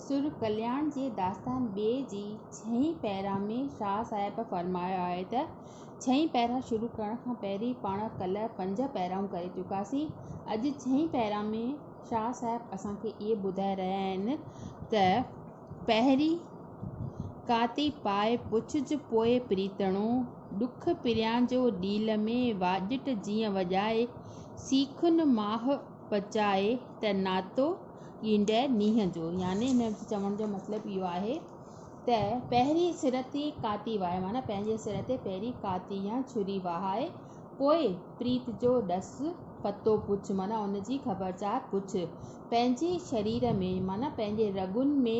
سر ڪلياڻ جي داستان ٻي جي ڇهين پيرا ۾ شاهه صاحب فرمايو آهي ته، ڇهين پيرا شروع ڪرڻ کان پهرين پاڻ ڪلهه پنج پيرائون ڪري چڪاسين. اڄ ڇهين پيرا ۾ شاهه صاحب اسان کي اهي ٻڌائي رهيا آهن ته، پهرين ڪاتي پاء پڇج پوء پريتڻو، ڏک پريان جو ڏيل ۾ واڄٽ جيئن وڄائي، سيخن ماهه پچائي ته ناتو، ايندڙ مينهن جو يعني هن جي چوڻ جو مطلب اهو آهي ته پهرين سر تي ڪاتي وهاء معنيٰ پنهنجي سر تي پهرين ڪاتي يا ڇري وهاء پوء پريت جو ڏس پتو پڇ معنيٰ ان جي خبرچار پڇ پنهنجي شرير ۾ معنيٰ پنهنجي رڳن ۾.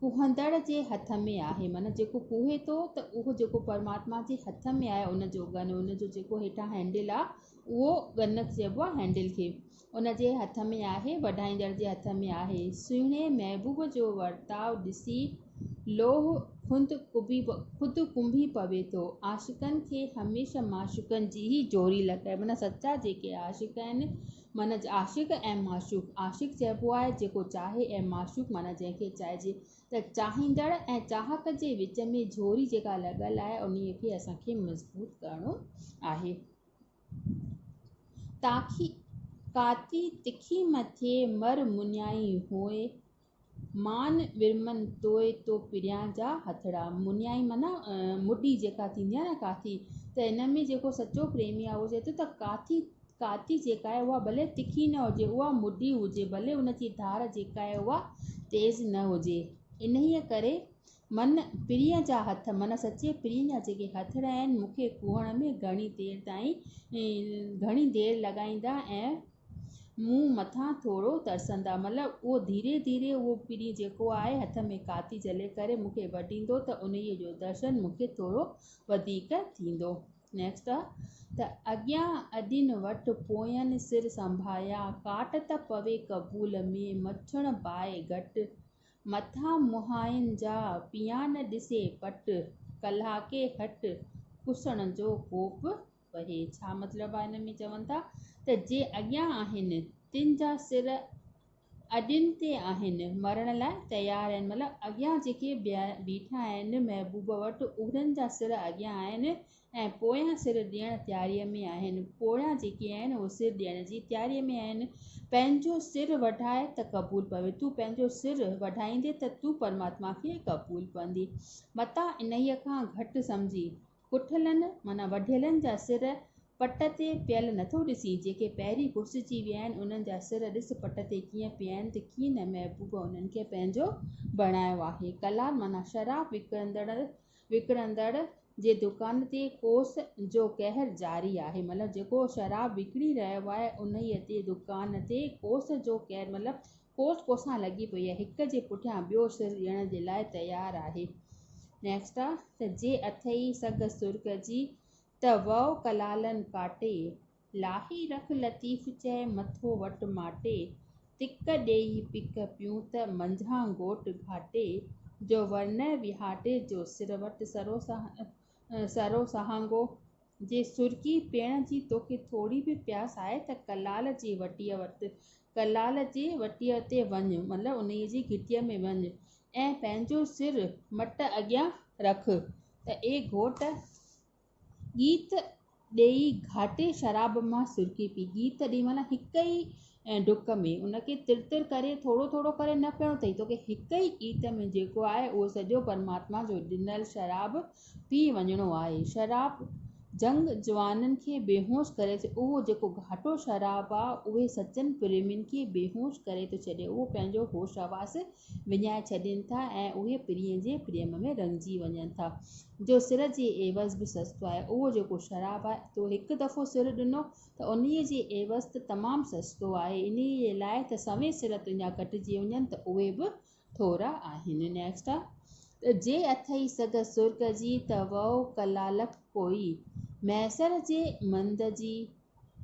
ڪوهندڙ جي هٿ ۾ آهي معنيٰ جيڪو ڪوهي ٿو ته اهو جيڪو پرماتما جي هٿ ۾ آهي ان جو ڳن ان جو جيڪو هيٺان هينڊل آهي اهو ڳن چئبو آهي هينڊل کي ان جي هٿ ۾ آهي وڍائيندڙ جي هٿ ۾ آهي سهڻي محبوب جو ورتاء ڏسي لوح خود ڪنبي پوي ٿو عاشقن کي هميشه معشوقن جي ئي جوڙي لڳائي معنيٰ سچا جيڪي عاشق آهن منجهه عاشق ۽ معشوق، عاشق چئبو آهي جيڪو چاهي ۽ معشوق معنيٰ جنهن کي چاهجي ته چاهيندڙ ۽ چاهڪ جي وچ ۾ جهوري جيڪا لڳل آهي انهي کي اسان کي مضبوط ڪرڻو آهي تاڪي ڪاتي تکي مٿي مر مڃائي هونء مان ورمن توء تو پريان جا هٿڙا. منيائي معنيٰ مڍي جيڪا ٿيندي آهي نه ڪاٿي ته هن ۾ جيڪو سچو پريمي آهي اهو چئي ٿو ته ڪاٿي، ڪاٿي جيڪا آهي اها ڀلي تکي نه هجي اها مڍي هجي ڀلي ان جي ڌار جيڪا آهي اها تيز نه هجي. انهيء ڪري من پرينء جا هٿ معنيٰ سچي پرينء جا جيڪي هٿڙا آهن مون کي کوهڻ ۾ گهڻي دير تائين گهڻي دير لڳائيندا ۽ مون مٿان ٿورو ترسندا مل اهو ڌيري ڌيري اهو پرين جيڪو آهي هٿ ۾ ڪاتي جهلي ڪري مون کي وڍيندو ته انهيء جو درشن مون کي ٿورو وڌيڪ ٿيندو. Next ته اڳيان اڏين وٺ پوئين سر سنڀايا ڪاٽ ته پوي قبول ۾ مڇڻ باء گهٽ مٿان مهائين جا پيان ڏسي پٽ ڪلهاڪي هٽ ڪسڻ جو ڪوپ وهي ڇا مطلب آهي ان ۾ چون ٿا ته جي اڳيان آهن تن جا سر اڏين تي آهن مرڻ لاء تيار آهن مطلب اڳيان جيڪي بيٺا آهن محبوب وٽ انهن جا سر اڳيان آهن ۽ پويان سر ڏيڻ تياري ۾ آهن پويان جيڪي آهن اهي سر ڏيڻ جي تياري ۾ آهن پنهنجو سر وڍاء ته قبول پوي تون پنهنجو سر وڍائيندي ته تون پرماتما کي قبول پوندي متان انهيء کان گهٽ سمجهي ڪٺلن معنيٰ وڍيلن جا سر پٽ تي پيل نٿو ڏسين، جيڪي پهرين گڙسجي ويا آهن، انهن جا سر ڏس پٽ تي ڪيئن پيا آهن ته ڪيئن نه محبوب انهن کي پنهنجو بڻايو آهي. ڪلار معنيٰ شراب وڪڻندڙ وڪڻندڙ جي دڪان تي ڪوس جو قهر جاري آهي مطلب جيڪو شراب وڪڻي رهيو آهي انهيء تي دڪان تي ڪوس جو قهر مطلب ڪوٽ ڪوسان لڳي پئي آهي هڪ جي پٺيان ٻيو سر ڏيڻ جي لاء تيار آهي نيڪسٽ آ ته جي اٿئي سگهه سرڳ جي ته وئو ڪلالن ڪاٽي لاهي رک لطيف چئه مٿو وٽ ماٽي تڪ ڏيئي پڪ پيون ته منجهان گهوٽ گهاٽي جو ورنئه وهاٽي جو سر وٽ سرو سهارو سرو سهانگو! جي سرڪي پيئڻ جي توکي ٿوري به پياس آهي ته ڪلال جي وٽيء وٽ، ڪلال جي وٽيء تي وڃ، مطلب انهيء جي گهٽيء ۾ وڃ ۽ پنهنجو سر مٽ اڳيان رک ته اي گهوٽ! ڳيت ڏيئي گهاٽي شراب مان سرڪي پي. گيت ڏي معنيٰ هڪ ئي ڊڪ ۾ ان کي تر تر ڪري ٿورو ٿورو ڪري نه پيئڻو اٿئي. توکي هڪ ئي گيت ۾ جيڪو آهي اهو سڄو پرماتما جو ڏنل شراب پي وڃڻو آهي. شراب جهنگ جوانن کي بيهوش ڪري ٿي اهو جيڪو گهاٽو شراب آهي اهي سچن پريمين کي بيهوش ڪري ٿو ڇڏي اهي پنهنجو هوش حواس وڃائي ڇڏين ٿا ۽ اهي پرينء جي پريم ۾ رڱجي وڃن ٿا جو سر جي عيوض به سستو آهي اهو جيڪو شراب آهي تو هڪ دفعو سر ڏنو ته انهي جي عيوض ته تمام سستو آهي انهي لاء ته سوين سر تنهنجا ڪٽجي وڃن ته اهي به ٿورا آهن Next ته جي اٿئي سگهه سرڳ جي ته وئو ڪلالڪ ڪوئي مهيسر جي مند جي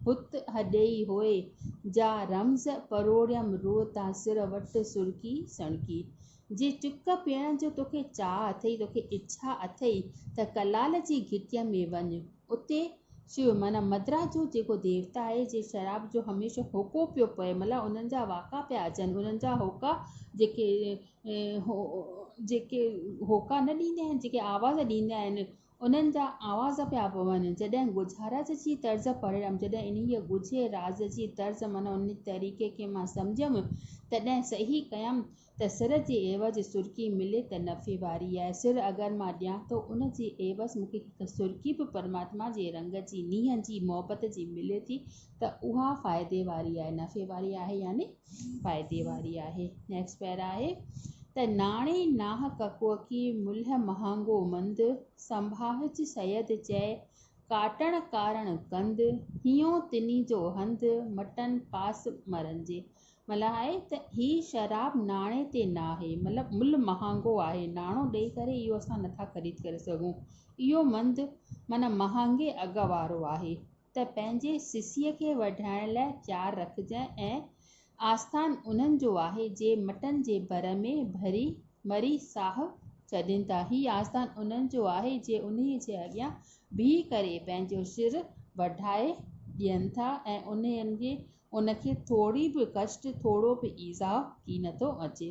هت هڏئي هوء جا رمز پروڙيم روء تان سر وٽ سڻڪي سڻڪي. جي چڪ پيئڻ جو توکي چاهه اٿئي، توکي اڇا اٿئي ته ڪلال جي گهٽيء ۾ وڃ. اتي شو معنيٰ مدرا جو جيڪو ديوتا آهي، جي شراب جو هميشه هوڪو پيو پئي، ملان انهن جا واڪا پيا اچن، انهن جا هوڪا جيڪي هوڪا نه ڏيندا آهن، جيڪي آواز ڏيندا آهن، انهن جا آواز پيا پون جڏهن ڳجهارج جي طرز پڙهيم جڏهن انهيء ڳجهي راز جي طرز معنيٰ ان طريقي کي مان سمجهيم تڏهن صحيح ڪيم ته سر جي عيوض سرڪي ملي ته نفعي واري آهي سر اگر مان ڏيان ٿو ان جي عيوض مون کي هڪ سرڪي به پرماتما جي رنگ جي نينهن جي محبت جي ملي ٿي ته اها فائدي واري آهي، نفعي واري آهي يعني فائدي واري آهي. نيڪسٽ پيرا آهي ته ناڻي ناهه ڪڪوڪي ملهه مهانگو مند، سنڀاهج سيد چئي ڪاٽڻ ڪارڻ ڪند، هيون تني جو هنڌ، مٽن پاس مرن جي. مطلب آهي ته هي شراب ناڻي تي ناهي، مطلب ملهه مهانگو آهي، ناڻو ڏئي ڪري اهو اسان نٿا خريد ڪري سگهون، اهو مند معنيٰ مهانگي اگهه وارو آهي. ته پنهنجي سسيء کي وڍائڻ لاء چار رکجانء ۽ آستان انهن جو آهي، جي مٽن جي ڀر ۾ ڀري مري ساهه ڇڏين ٿا. هي آستان انهن جو آهي، جي انهيء جي اڳيان بيهي ڪري پنهنجو سر وڍائي ڏين ٿا ۽ انهن کي ٿوري به ڪشٽ، ٿورو به ايذاء ڪين ٿو اچي.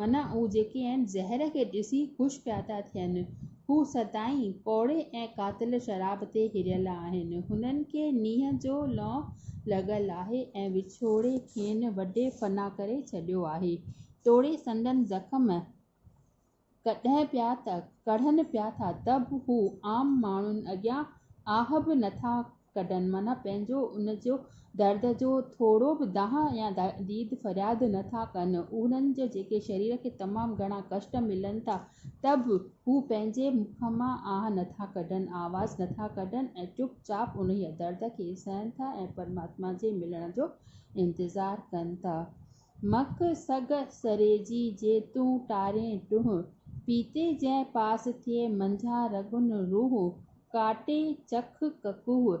معنيٰ اهي جيڪي آهن زهر کي ڏسي خوش پيا ٿا ٿين، هو سدائين ڪوڙي ۽ قاتل شراب تي هريل آهن. هنن کي نينهن جو لئون لڳل آهي ۽ وڇوڙي کين وڍي فنا ڪري ڇڏيو آهي. توڙي سندن زخم ڪڙهن پيا ٿا ته به هو عام ماڻهن اڳيان آهه به نٿا ڪڍن معنيٰ پنهنجو ان جو درد جو ٿورو به دانهن يا ديد فرياد نه ٿا ڪن. انهن جي جيڪي شرير کي تمام گهڻا ڪشٽ ملن ٿا ته به هو پنهنجي مک مان آهه نه ٿا ڪڍن، آواز نه ٿا ڪڍن ۽ چپ چاپ انهيء درد کي سهن ٿا ۽ پرماتما جي ملڻ جو انتظار ڪن ٿا. مک سڳ سريجي جي تون ٽارين ٽوهه. پيتي جنهن پاس ٿئي منجهان رڳن روه. ڪاٽي چک ڪڪوه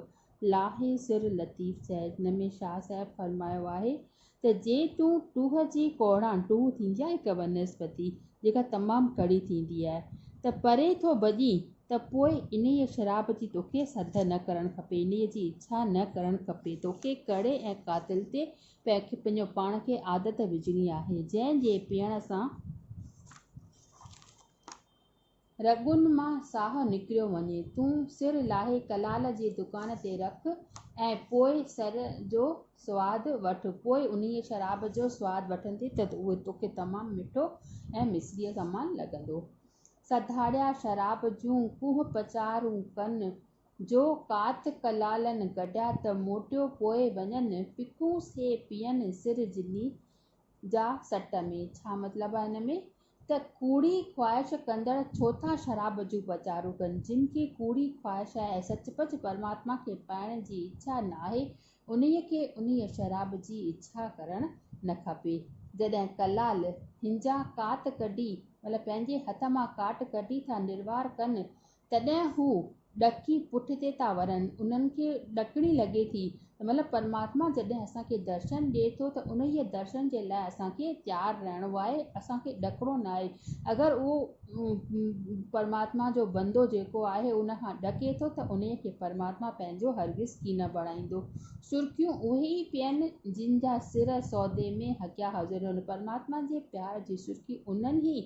لاهي سر لطيف چئج. هن ۾ شاهه صاحب فرمايو آهي ته جي تون ٽوهه جي ڪوڙان، ٽوهه ٿيندي آهي هڪ بنسبتي جيڪا تمام ڪڙي ٿيندي آهي، ته پري ٿو ڀڄين ته پوء انهيء شراب جي توکي سڌ نه ڪرڻ کپي، انهيء جي اڇا نه ڪرڻ کپي، توکي ڪڙي ۽ قاتل تي پکي پنهنجو پاڻ کي عادت وجهڻي آهي جنهن جي پيئڻ سان رڳن مان ساهه نڪريو وڃي. تون سر لاهي ڪلال جي دڪان تي رک ۽ پوء سر جو سواد وٺ. پوء انهيء شراب جو سواد وٺندين ته اهو توکي تمام مٺو ۽ مصريء سمان لڳندو. سڌاڙيا شراب جون ڪوهه پچارون ڪن جو ڪات ڪلالن گڏا ته موٽيو پوء وڃن ڦڪون سي پيئن سر جلي جا سٽ ۾. ڇا مطلب آهي ان ۾؟ ته ڪوڙي خواهش ڪندڙ ڇو ٿا شراب جون پچارون ڪن؟ جن کي ڪوڙي خواهش آهي ۽ سچ پچ پرماتما کي پائڻ جي اڇا ناهي انهيء کي انهيء شراب جي اڇا ڪرڻ نه کپي. جڏهن ڪلال هنجا ڪات ڪڍي مطلب پنهنجي هٿ مان ڪاٽ ڪڍي ٿا نروار ڪن تڏهن هو ڏڪي پٺتي ٿا ورن، انهن کي ڏڪڻي لڳي ٿي ته مطلب پرماتما جڏهن اسان کي درشن ڏئي ٿو ته انهيء درشن جي لاء اسان کي تيار رهڻو آهي، اسان کي ڏڪڻو ناهي. اگر اهو پرماتما جو بندو جيڪو آهي ان کان ڏڪي ٿو ته انهيء کي پرماتما پنهنجو هرگز ڪي نه بڻائيندو. سرخيون اهي ئي پين جن جا سر سودي ۾ هڪيا هجن. پرماتما جي پيار جي سرخي انهن ئي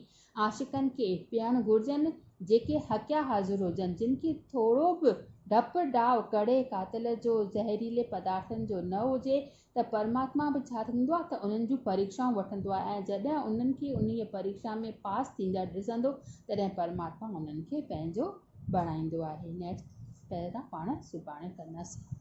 عاشقن کي پيئڻ گهرجن جيڪي هڪيا حاضر هجن جن کي ٿورو به ڊپ ڊاء ڪڙي قاتل جو زهريلي پدارٿن جو نه هجي ته پرماتما به ڇا ٿيندو آهي ته انهن جون پريڪشائون وٺندو آهي ۽ جڏهن انهن کي انهيء پريڪشا ۾ پاس ٿيندڙ ڏسندو تڏهن پرماتما انهن کي پنهنجو بڻائيندو آهي نيڪسٽ پيرا پاڻ سڀاڻي ڪنداسين.